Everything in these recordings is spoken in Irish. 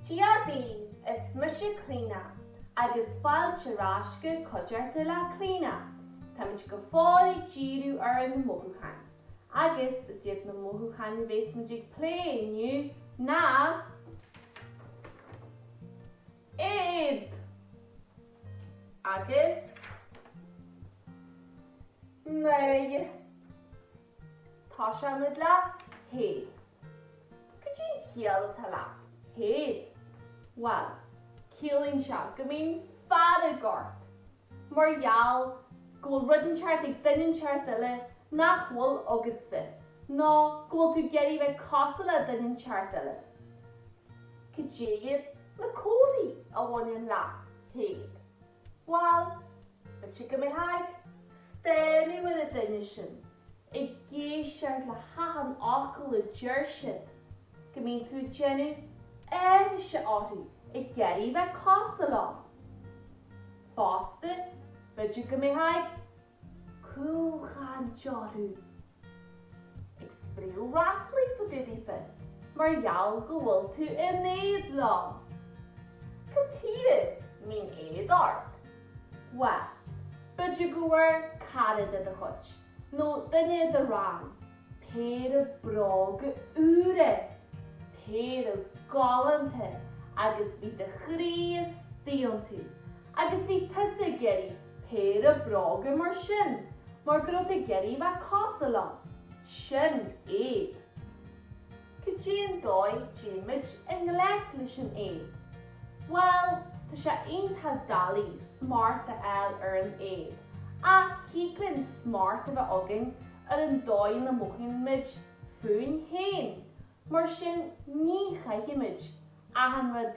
Dia daoibh is mise Clíona agus fáilte ar ais go Cuideachta le Clíona! Táimid go fóill ag díriú ar na mothúcháin agus is iad na mothúcháin a bhéas muid ag plé inniu ná. Éad agus náire. Tosóidh muid le héad. Goidé an chiall atá le héad? Bhuel, ciallaíonn sé go mbíonn fearg ort mar gheall go bhfuil rud inteacht ag duine inteacht eile nach bhfuil agatsa, nó go bhfuil tú ag iarraidh bheith cosúil le duine inteacht eile. Cad iad na comharthaí a bhaineann le héad? Bhuel, b'fhéidir go mbeitheá ag stánadh ar an duine sin ag éisteacht le hachan fhocal a deir siad go mbíonn tú ag déanamh aithrise orthu ag iarraidh bheith cosúil leo. Fosta, b'fhéidir go mbeitheá ag cúlchaint orthu, ag spréadh ráflaí fá dtaobh daofa mar gheall go bhfuil tú in éad leo. Cad tuige a mbíonn éad ort? Bhuel, b'fhéidir go bhfuair cara de do chuid. nó duine i do rang, péire bróga úra, péire galánta agus bhí do chroí istigh iontu agus bhí tusa ag iarraidh péire bróga mar sin mar go raibh tú ag iarraidh a bheith cosúil leo. Sin éad. Goidé an dóigh a dtéimid i ngleic leis an éad. Bhuel, tá sé iontach doiligh smacht a fháil ar an éad, ach thig linn smacht a bheith againn ar an dóigh ina mothaímid fúinn féin. Mar sin, ní chaithfimid achan rud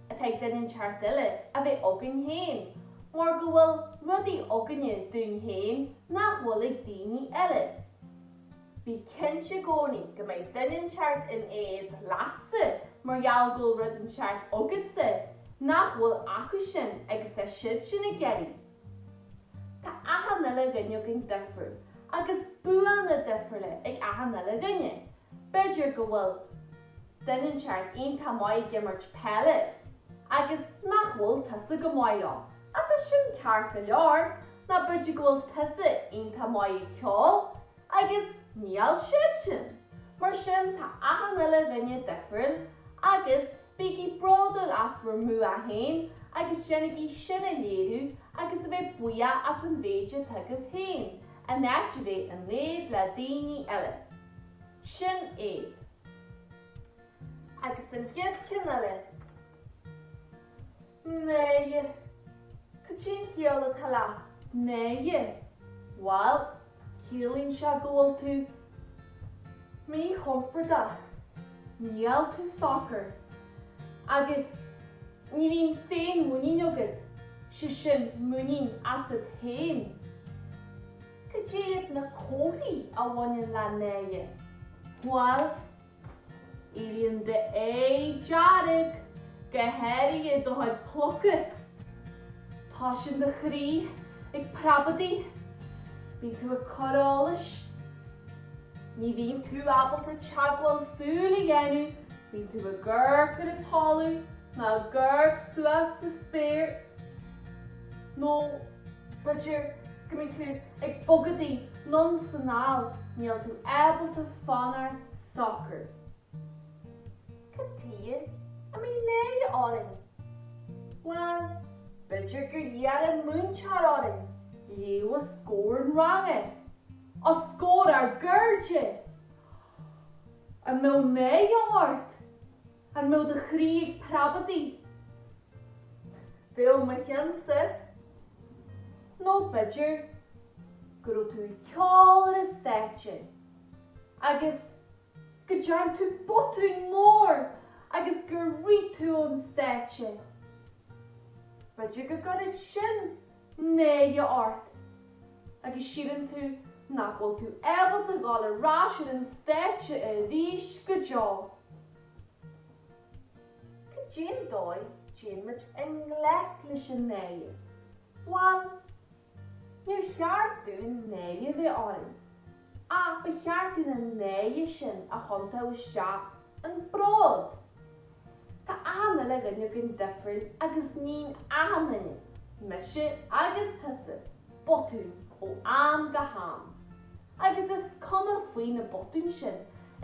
atá ag duine inteacht eile a bheith againn féin, mar go bhfuil rudaí againne dúinn féin nach bhfuil ag daoine eile. Bí cinnte i gcónaí go mbeidh duine inteacht in éad leatsa mar gheall go bhfuil rud inteacht agatsa nach bhfuil acu sin agus tá siad sin ag iarraidh. Tá achan uile dhuine againn difriúil agus buanna difriúla ag achan uile dhuine. B'fhéidir go bhfuil duine inteacht iontach maith ag imirt peile agus nach bhfuil tusa go maith aige. Tá sin ceart go leor. Nó b'fhéidir go bhfuil tusa iontach maith ag ceol Agus níl siad sin. Mar sin tá achan uile dhuine difriúil agus bígí bródúil as bhur mbua féin agus déanaigí sin a léiriú agus a bheith buíoch as an mhéid atá agaibh féin, in áit a bheith in éad le daoine eile. Sin éad. Agus an chéad cheann eile. Náire. Cad é an chiall atá le náire? Bhuel, ciallaíonn sé go bhfuil tú míchompordach, níl tú socair, agus ní bhíonn féinmhuinín agat, sé sin muinín asat féin. Cad iad na comharthaí a bhaineann le náire? Bhuel, Éiríonn d'aghaidh dearg go háirithe do chuid pluca. Tosaíonn do chroí ag preabadaigh. Bíonn tú ag cur allais. Ní bhíonn tú ábalta teagmháil súl a dhéanamh, bíonn tú ag amharc ar an talamh nó ag amharc suas sa spéir nó, B'fhéidir go mbíonn tú ag bogadaigh anonn is anall, níl tú ábalta fanacht socair. Cad tuige a mbíonn náire orainn? Bhuel, b'fhéidir gur iarr an múinteoir orainn léamh os comhair an ranga. Os comhair ár gcairde! An mbeadh náire ort? An mbeadh do chroí ag preabadaigh? Bheadh mo cheannsa. Nó b'fhéidir go raibh tú ag ceol ar an stáitse agus go dtearn tú botún mór agus gur rith tú ón stáitse. B'fhéidir go gcuirfeadh sin náire ort agus síleann tú nach bhfuil tú ábalta dhul ar ais ar an stáitse arís go deo. Cad é an dóigh a dtéann muid i ngleic leis an náire? Bhuel, níor cheart dúinn náire a bheith orainn. Ach ba cheart dúinn an náire sin a thiontú isteach ina bhród. Tá achan uile dhuine againn difriúil agus níonn achan duine, mise agus tusa, botúin ó am go ham. Agus is cuma faoi na botúin sin,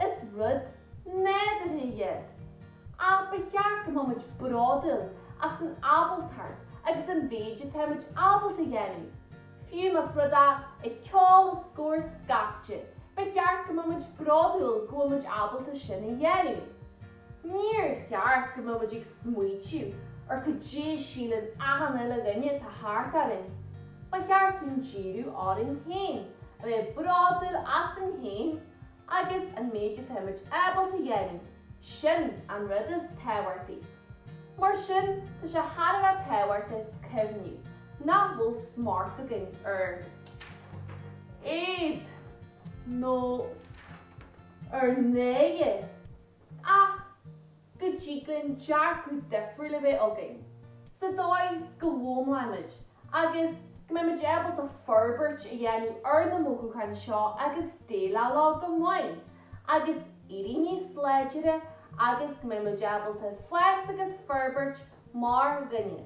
is rud nádúrtha iad. Ach ba cheart go mbeadh muid bródúil as an ábaltacht agus an mhéid atá muid ábalta a dhéanamh. Fiú más rud é ceol a scor scaifte, ba cheart go mbeimid bródúil go bhfuil muid ábalta sin a dhéanamh. Níor cheart go mbeimid ag smaoitiú ar cad é a síleann achan uile dhuine atá thart orainn. Ba cheart dúinn díriú orainn féin, a bheith bródúil asainn féin Agus an méid atáimid ábalta a dhéanamh, sin an rud is tábhachtaí. Mar sin, tá sé thar a bheith tábhachta cuimhniú nach bhfuil smacht againn ar éad nó ar náire ach. go dtig linn dearcadh difriúil a bheith againn, sa dóigh is go bhfoghlaimímid agus go mbeimid ábalta forbairt a dhéanamh ar na mothúcháin seo agus déileáil leo go maith agus éirí níos láidre agus go mbeimid ábalta fás agus forbairt mar dhuine.